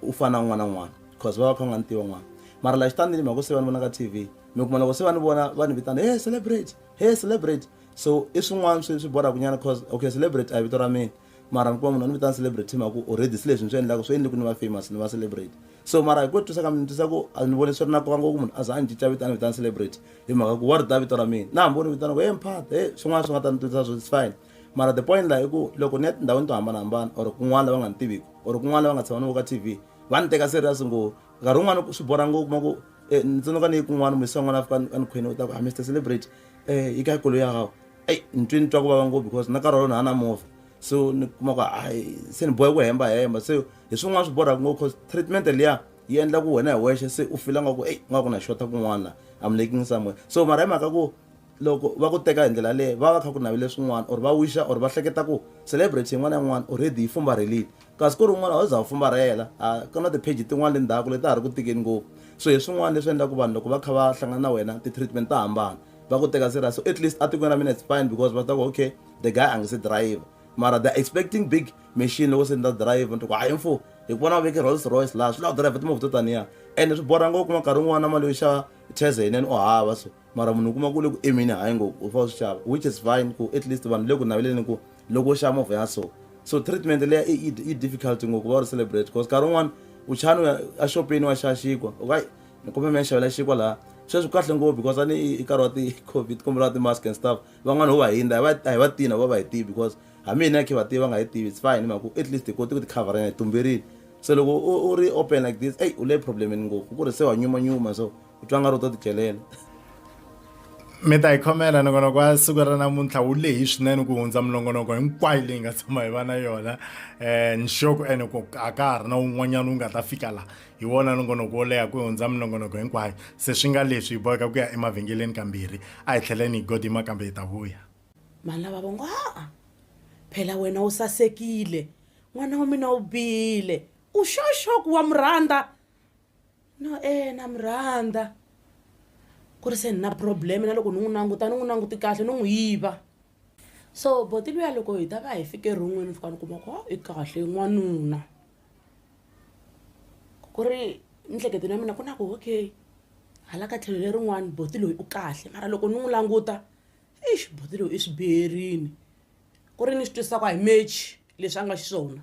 u fana na un'wana na un'wana because va va kha nga ni tiva n'wana mara laha xitandini mhaka se va ni vona ka t v mi kuma loko se va ni vona va ni vitana he celebrate he celebrate so i swin'wana swi swi borhaku nyana cause okay celebrate a hi vito ra mina mara ni kuma munhu a ni vitana celebrity hi mhaka ku already si leswi ni swi endlaka swi endle ku ni va famous ni va celebrity so mara hi ku twisa ka mina ni twisa ku a ni vone swi ri na nkoka ngopfu munhu a za a ni cinca vito a ni vitana celebrity hi mhaka ku wa ri ta vito ra mina na hambi u ni vitana ku he mphat he swin'wana swi nga ta ni twisa swo it's fine mara the point laha i ku loko ni ya tindhawini to hambanahambana or kun'wana lava nga ni tiviki or kun'wana lava nga tshama ni vo ka t v va ni teka serious ngopfu nkarhi wun'wana swi borha ngopfu kuma ku um ni tsundzuka ni yi kun'wana muyisiwa n'wana a fika a ni khwini u ta ku a ah, mr celebrity um yi ka kolo ya gago eyi ni twe ni twa ku vava ngopfu because na karhi walono a na movha so ni kuma ku hayi se ni bohe ku hemba hemba se hi swin'wana swi borhaka ngopfu cause treatment liya yi endla ku wena hi wexe se u fila nga ku eyi nga ku na xota kun'wana la am laking somewhere so mara hi mhaka ku loko va ku teka hi ndlela leyo va va kha ku navele swin'wana or va wixa or va hleketa ku celebrity yin'wana na yin'wana already yi fumbarhelile kasi ku ri un'wana a za wu fumbarhela a ku na ti-page tin'wana le ndzhaku leti a ha ri ku tikeni ngopfu so hi swin'wana leswi endlaku vanhu loko va kha va hlangana na wena ti-treatment ta hambana va ku teka serious so at least atikweni ra mina it's fine because va ta ku okay the guy a nge se drive mara they're expecting big machine loko se ni ta drive ni ku hayi mfo hi ku vona va veke rolls royce laha swi lava drive timovha to taniya ende swi borha ngopfu kuma nkarhi wun'wana mali yo xava cheze yinene u hava so mara munhu u kuma ku le ku emini hayi ngopfu u fanele swi xava which is fine ku at least vanhu le ku naveleni ku loko u xava movha ya so so treatment leya i difficult ngopfu va ri celebrate because nkarhi wun'wana u chani u ya exopeni wa xaxikwa okay ni kumbe mi ya xavela xinkwa laha sweswi kahle ngopfu because a ni i nkarhi wa ti-covid kumbe lawa ti-mask and stuff van'wana ho va hindza a hi va tina vo va hi tivi because hambi yini ya khe va tivi va nga yi tivi it's fine hi mhaka ku at least hi koti ku ti coverana hi tumberile se loko u ri open like this eyi u le problemini ngopfu ku ri se wa nyumanyuma so u twa nga ri u to ti celela mi ta yi khomela nongonoko wa siku ra namuntlha wu lehi swinene ku hundza minongonoko hinkwayo leyi nga tshama hi va na yona um nxoko ene ku a ka ha ri na wun'wanyana wu nga ta fika laha hi wona nongonoko wo leha ku hundza minongonoko hinkwayo se swi nga leswi hi boheka ku ya emavhengeleni kambirhi a hi tlheleni hi godima kambe hi ta vuya mhani lava vongo haa phela wena u sasekile n'wana wa mina u bile u xoxoku wa murhandza no e na murhandza ku ri se ni na problem na loko ni n'wi languta ni n'wi languti kahle ni n'wi yiva so boti luya loko hi ta va hi fike ron'wini fika ni kuma ku oh, i kahle n'wanuna ku ri mihleketweni ya mina ku na ku okay hala ka tlhelo lerin'wani boti loyi u kahle mara loko ni n'wi languta ixi boti loyi i swi biherini ku ri ni swi twisisa ku a hi mechi leswi a nga xiswona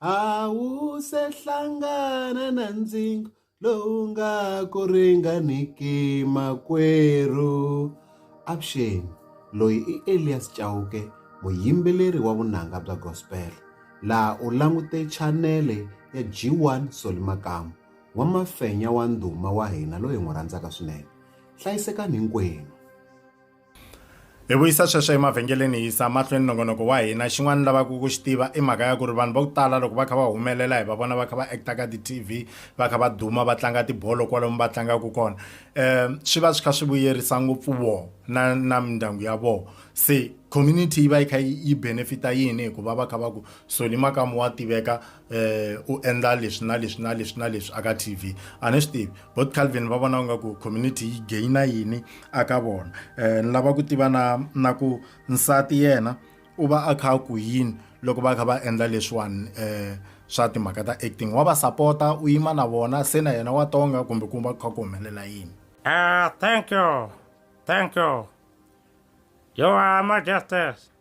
a wu se hlangana na ndzingo lowu nga ku ringaniki makwerhu avuxeni loyi i elias chauke muyimbeleri wa vunanga bya gospel laha u langute chanele ya g1 soli makamu wa mafenya wa ndhuma wa hina loyi hi n'wi rhandzaka swinene hlayisekani hinkwenu hi vuyisa sweswo emavhengeleni hi yisa mahlweni nongonoko wa hina xin'wana lavaka ku xi tiva i mhaka ya ku ri vanhu va ku tala loko va kha va humelela hi va vona va kha va acta ka ti-tv va kha va duma va tlanga tibolo kwalomu va tlangaka kona um swi va swi kha swi vuyerisa ngopfu voho na na mindyangu ya voho se community yi va yi kha yi benefita yini hikuva va kha va ku soli makamu wa tiveka eh u endla leswi na leswi na leswi na leswi aka TV a ni swi tivi both Calvin va vona nga ku community yi gaina yini aka vona eh ni lava ku tiva na na ku nsati yena u va a kha ku yini loko va kha va endla leswiwani eh swa timhaka ta acting wa va sapota u yima na vona se na yena wa tonga kumbe ku va kha ku humelela yini ah thank you thank you you are majesties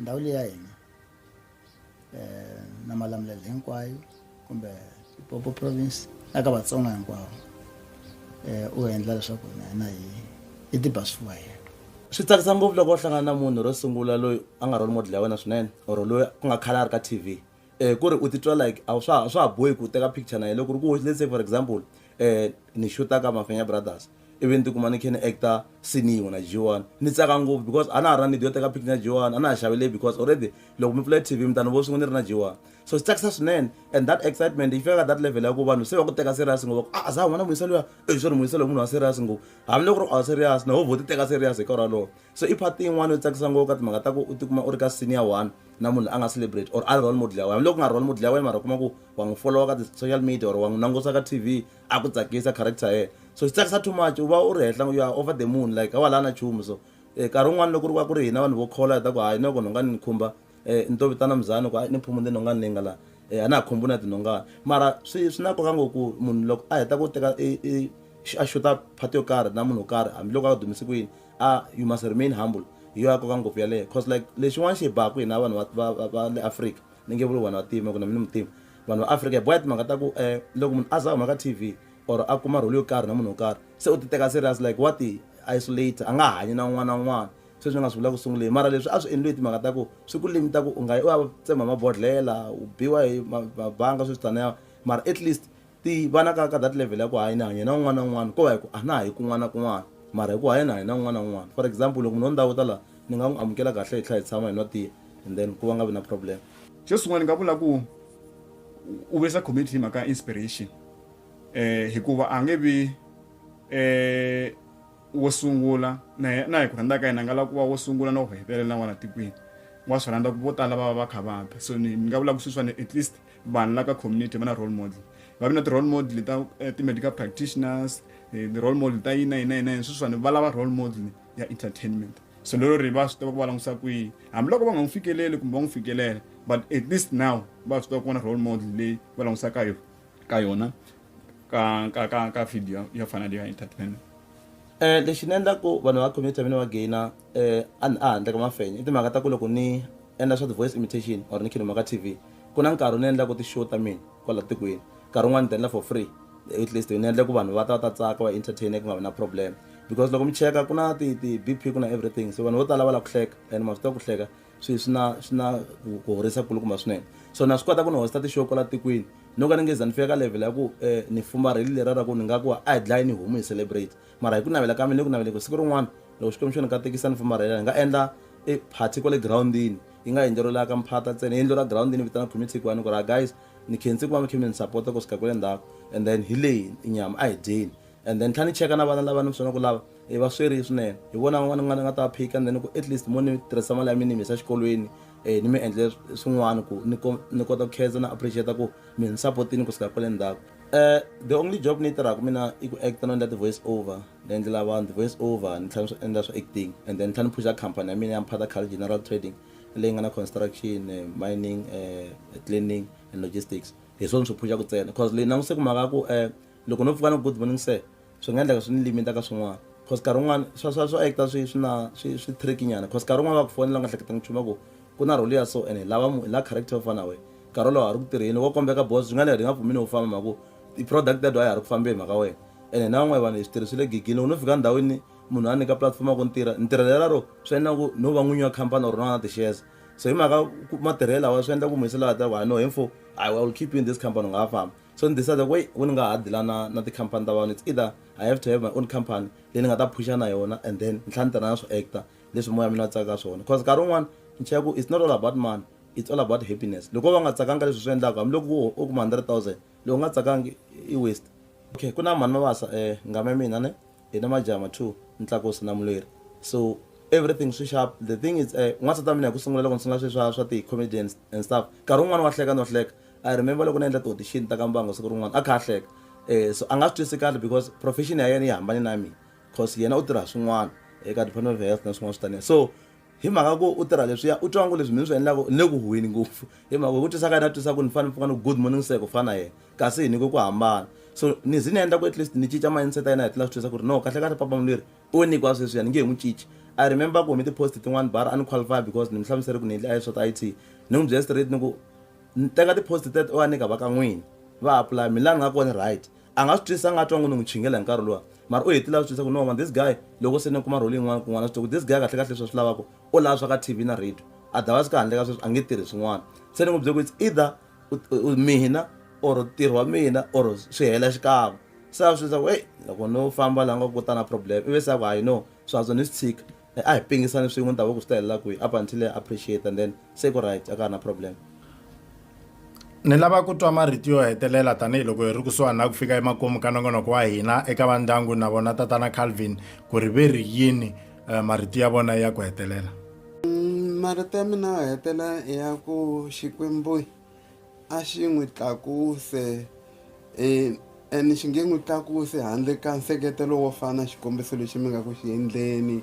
Ndhawu leyi ya hina na Malamulele hinkwayo kumbe Limpopo province na ka Vatsonga hinkwavo u endla leswaku na hina hi hi tiba swifuva hi yena. Swi tsakisa ngopfu loko u hlangana na munhu ro sungula loyi a nga role model ya wena swinene or loyi ku nga khale a ri ka T_V um ku ri u titwa like a swa a swa ha bohi ku u teka picture na yena loko ri ku let's say for example um ni xuta ka mafenya brothers ivi ni tikuma ni khe ni actor sini yin'we na jiwani ni tsaka ngopfu because a na ha ra need yo teka picture na jiwani a na ha xavele because already loko mi pfula tv mi ta ni vo swin'we ni ri na jiwani so swi tsakisa swinene and that excitement yi fika ka that level ya ku vanhu se va ku teka serious ngopfu va ku a za huma na muyisa luya e swi ri muyisa loyi munhu wa serious ngopfu hambiloko ri a serious na ho vo ti teka serious hi nkarhi walowo so i part yin'wana yo tsakisa ngopfu ka timhaka ta ku u tikuma u ri ka senior one na munhu a nga celebrate or a ri role model ya wena loko nga role model ya wena mara kuma ku wa n'wi followa ka ti-social media or wa n'wi langusa ka tv a ku tsakisa character yena so swi tsakisa too much u va u ri henhla you are over the moon like a wa la na chumu so um nkarhi wun'wana loko ri va ku ri hina vanhu vo khola hi ta ku hayi noko nhongani ni khumba um ni to vitana muzani ku a ni phumuni tinhongani leyi nga laha um a na ha khumbi na tinhongani mara swi swi na nkoka ngo ku munhu loko a heta ku teka a xuta phati yo karhi na munhu wo karhi hambiloko a dumise ku yini a you must remain humble hi yo ya koka ngopfu yaleyo cause like lexin'wana xi hi baku hina vanhu va le afrika ni nge vuli vanhu va tima ku na mina mutima vanhu va afrika hi boya timhaka ta ku um loko munhu a za huma ka t v or a kuma rholi yo karhi na munhu wo karhi se u ti teka serious like wa ti isolate a nga hanyi na un'wana na un'wana sweswi ni nga swi vula ku sunguleni mara leswi a swi endliwe timhaka ta ku swi ku limita ku u nga yi u ya tsema mabodhlela u biwa hi mabanga sweswi taniya mara at least ti va na ka ka that level ya ku hayi ni hanya na un'wana na un'wana ko va hi ku a na ha yi kun'wana na kun'wana mara hi ku haya ni hanya na un'wana na un'wana for example loko munhu wo ndhawu ta laha ni nga n'wi amukela kahle hi tlhela hi tshama hi nwa tiya and then ku va nga vi na problem xo sungula ni nga vula ku u vuyisa community hi mhaka inspiration um hikuva a nge vi um wo sungula na na hi ku rhandza ka yena a nga lava ku va wo sungula na ku hetelela na n'wana tikweni wa swi rhandza ku vo tala va va va kha va ta so ni ni nga vula ku sweswiwani at least vanhu la ka community va na role model va vi na ti-role model ta eh, ti-medical practitioners eh, ti-role model ta yina yina yina yini sweswiwani va lava role model ya entertainment so lero ri va swi tiva ku va langutisa kwihi hambiloko va nga n'wi fikeleli kumbe va n'wi fikelela but at least now va swi tiva ku vona role model leyi va langutisa ka yona ka yona ka ka ka ka video ya fana leyi ya entertainment um lexi ni endlaku vanhu va community ya mina va gaina um a handle ka mafenya i timhaka ta ku loko ni endla swa ti-voice imitation or ni khiduma ka t v ku na nkarhi ni endlaka ti-show ta mina kwala tikweni nkarhi wun'wana ni ti endla for free at least ni endla ku vanhu va ta ta tsaka va entertaine ku nga vi na problem because loko mi cheka ku na ti-bp ku na everything so vanhu vo tala va lava ku hleka and ma swi tiva ku hleka swi swi na swi na ku horisa kulukumba swinene so na swi kota ku ni hosta ti-show kwala tikweni no ka ni nge za ni fika ka level ya ku um ni fumarheli lera ra ku ni nga ku a hi dlayi ni homu hi celebrate mara hi ku navela ka mina ni ku navele ku siku rin'wana loko xikwembu xo ni katekisa ni fumarhela hi nga endla e party kwale girawundini yi nga yindlo ro laka mphata ntsena yindlo ra ground ni vitana khumi tshikwana ku ra guys ni khensi ku va mi khe mi ni sapota ku sika ku le ndzhaku and then hi leyi inyama a hi dyeni and then tlha ni cheka na vana lava ni swona ku lava i va sweri swinene hi vona van'wana ni nga ni nga ta va phika and then ku at least mo ni tirhisa mali ya mina ni mi yisa xikolweni um ni mi endle swin'wana ku ni ni kota ku khensa na appreciate ku mi ni sapotini ku sika ku le ndzhaku um the only job ni yi tirhaka mina i ku acta no endla ti-voice over Ni endlela vanhu ti-voice over ni tlhela ni swi endla swa acting and then ni tlhela ni phuza khampani ya mina ya Mphato Khale General Trading leyi nga na construction, mining, cleaning and logistics hi swona ni swi phuzaka ntsena coz leyi langutise ku mhaka ya ku loko no pfuka ni ku good morning sir swi nga endleka swi ni limit ka swin'wana coz nkarhi wun'wana swa swa swo actor swi swi na swi swi trick nyana coz nkarhi wun'wana va ku fonela u nga hleketanga nchumu va ku ku na role ya so and hi lava munhu hi lava character yo fana na wena nkarhi wolowo a ri ku tirheni wo kombeka boss swi nga endleka hi nga pfumeli u famba hi mhaka ku i product that a ya ha ri ku fambeni mhaka wena ene na van'wana vanhu hi switirhi swi le gigini loko no fika ndhawini munhu a nyika platform ya ku ni tirha ni tirhela lero swi endla ku no va n'winyi wa khampani or na na ti-shares so hi mhaka matirhelo lawa swi endla ku munhu se lawa ta ku hayi no hi mfo i will keep you in this company u nga ha famba so ni decide ku eyi ku ni nga ha dila na na tikhampani ta vanhu it's either i have to have my own company leyi ni nga ta phusha na yona and then ni tlhela ni tirha na swo actor leswi moya mina tsaka swona cause nkarhi wun'wani ni cheka ku it's not all about money it's all about happiness loko va nga tsakanga leswi swi endlaka hambiloko wo u kuma 100000 loko nga tsakangi i waste okay ku na mhani mavasa eh ngama ya mina ne hi na majama two ntlakusi na mulweri so everything swi sharp the thing is eh n'wansati wa mina hi ku sungula loko ni sungula sweswi swa swa ti-comedians and stuff nkarhi wun'wani wa hleka no hleka i remember loko ni endla ti-audition ta ka mbango siku rin'wana a kha a hleka eh so a nga swi twisi kahle because profession ya yena yi hambane na mina cause yena u tirha swin'wana eka department of health na swin'wana swi taniya so hi mhaka ku u tirha leswiya u twa ngo leswi mi ni swi endlaka ni le ku huheni ngopfu hi mhaka hi ku twisa ka yena a twisa ku ni fanele ni pfuka ni good morning sir ku fana na yena kasi hi nyike ku hambana so ni ze ni endla ku at least ni cinca mindset ya yena hi tlula swi twisa ku ri no kahle kahle papa mulweri u nyikiwa sweswiya ni nge hi n'wi cinci i remember ku humi ti-post tin'wani bara a ni qualify because ni mi hlamusele ku ni endle i swa ti-i t ni n'wi byela straight ni ku ni teka ti-post tet o a nyika va ka n'wini va apply mi laha ni nga kona right a nga swi twisisa a nga twa ngo ni n'wi chingela hi nkarhi luwa mara u hetile a swi twisisa ku no man this guy loko se ni kuma role yin'wana kun'wana swi twa ku this guy kahle kahle leswi a swi lavaka u lava swa ka tv na radio otherwise ka handle ka sweswi a nge tirhi swin'wana se ni n'wi bye ku it's either mina or ntirho wa mina or swi hela xikan'we se a swi twisisa ku eyi loko no famba laha nga ku ta na problem ivi se a ku hayi no swihantswa ni swi tshika A hi pingisani swin'we ni ta va ku swi ta helela kwihi up until ya appreciate and then se ku right a ka ha na problem. Ni lava ku twa marito yo hetelela tanihi loko hi ri kusuhani na ku fika emakumu ka nongonoko wa hina eka va ndyangu na vona Tatana Calvin ku ri ve ri yini marito ya vona ya ku hetelela. Marito ya mina yo hetelela i ya ku Xikwembu. A xi n'wi tlakuse, e, and xi nge n'wi tlakuse handle ka nseketelo wo fana xikombiso lexi mi nga ku xi endleni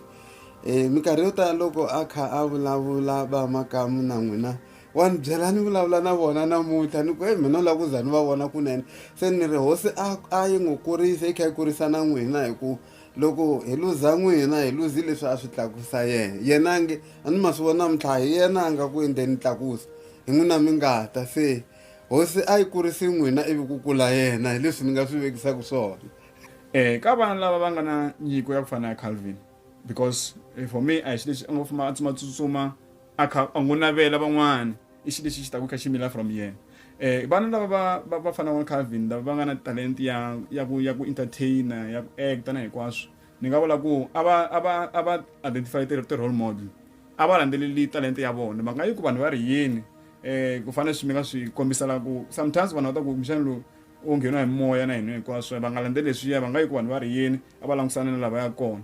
e, minkarhi yo tala loko a kha a vulavula va makamu na n'wina wa ni byela ni vulavula na vona namuntlha ni ku e mina u lava ku za ni va vona kunene se ni ri hosi a a yi n'wi kurisa yi kha yi kurisa na n'wina hi ku Loko hi luza n'wina, hi luzi leswi a swi tlakusa yena. Yena a nge, A ni ma swi vona namuntlha, hi yena a nga ku endleni ntlakuso, hi n'wina mi nga ta. Se Hosi a yi kurisi n'wina ivi ku kula yena, hi leswi ni nga swi vekisaka swona. Eeh ka vana lava va nga na nyiko ya ku fana na ya Calvin because for me a hi xi lexi a ngo famba a tsutsumatsutsuma. a kha a n'wi navela van'wana i xilo lexi xi taka kha xi mila from yena eh vana lava va va va fana wa Calvin lava va nga na talent ya ya ku ya ku entertainer ya ku actor na hinkwaswo ni nga vula ku a va a va a va identify ti ti role model a va landzeleli talent ya vona mhaka yi ku vanhu va ri yini eh ku fana swi mi nga swi kombisela ku sometimes vanhu va ta ku kumbexana lowu u ngheniwa hi moya na hina hinkwaswo va nga landzeleli leswiya va nga yi ku vanhu va ri yini a va langutisana na lava ya kona.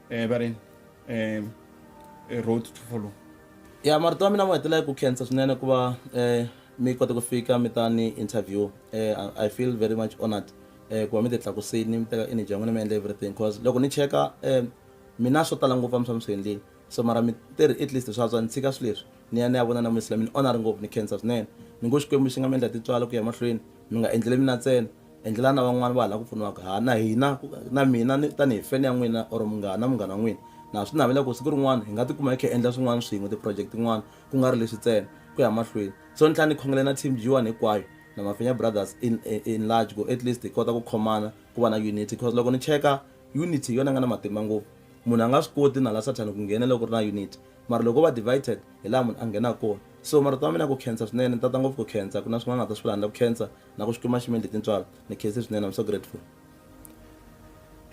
eh, va ri eh, eh, road to follow ya marito ya mina mo hetelela ku khensa swinene ku va um mi kota ku fika mi ta ni interview um i feel very much honored um ku va mi ti tlakusini mi teka energy ya n'wina mi endla everything bcause loko ni cheka um mina swo tala ngopfu a mi swa mi swi endlile so mara mi tirhi at least swa swa ni tshika swi leswi ni ya ni ya vona na muyisila mi ni onari ngopfu ni khensa swinene ni ngo xikwembu xi nga mi endla titswala ku ya mahlweni mi nga endlele mina ntsena endlela na van'wani va hala ku pfuniwaka ha na hina na mina tanihi fene ya n'wina or munghana na munghana n'wina na swi navela ku siku rin'wana hi nga tikuma hi kha hi endla swin'wana swin'we ti-project tin'wana ku nga ri leswi ntsena ku ya mahlweni so ni tlhela ni khongela na team g1 hinkwayo na mafenya brothers in, in large ku at least hi kota ku khomana ku va na unity because loko ni cheka unity hi yona nga na matimba ngopfu munhu a nga swi koti na la sathana ku nghena loko ri na unity mara loko va divided hi laha munhu a nghenaka kona so marito ma mina ku khensa swinene ni tata ngopfu ku khensa ku na swin'wana nga ta swi vula handle ku khensa na ku swi kuma ximendli tintswalo ni khese swinene i'm so grateful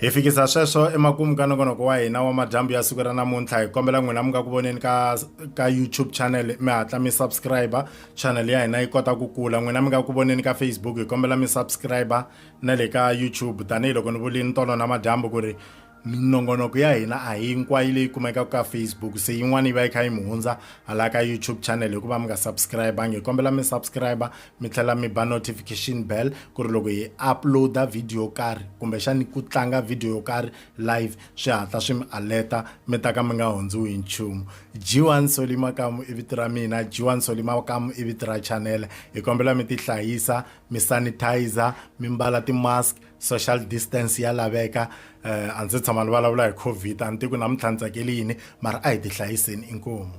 hi fikisa sweswo emakumu ka nongonoko wa hina wa madyambu ya siku ra namuntlha hi kombela n'wina mi nga ku voneni ka ka youtube channel mi hatla mi subscribe channel ya hina yi kota ku kula n'wina mi nga ku voneni ka facebook hi kombela mi subscribe na le ka youtube tanihiloko ni vulini tolo na madyambu ku ri minongonoko ya hina a hinkwayo leyi kumekaka ka facebook se yin'wana yi va yi kha yi mi hundza hala ka youtube channel hikuva mi nga subscribangi hi kombela mi subscribe mi tlhela mi ba notification bell ku ri loko hi uploada video yo karhi kumbexani ku tlanga video yo karhi live swi hatla swi mi aleta mi ta ka mi nga hundziwi hi nchumu jiwan soli makamu i vito ra mina jiwan soli makamu i vito ra channel hi kombela mi tihlayisa mi sanitizer mi mbala ti-mask social distance ya laveka um a ndzi tshama ni vulavula hi covid a ni tiku namuntlha ni tsakeli yini mara a hi ti hlayiseni inkomu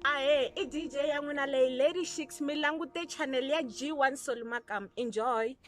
ahe i dj ya n'wina leyi lady shiks mi langute channel ya g1 solimakam enjoy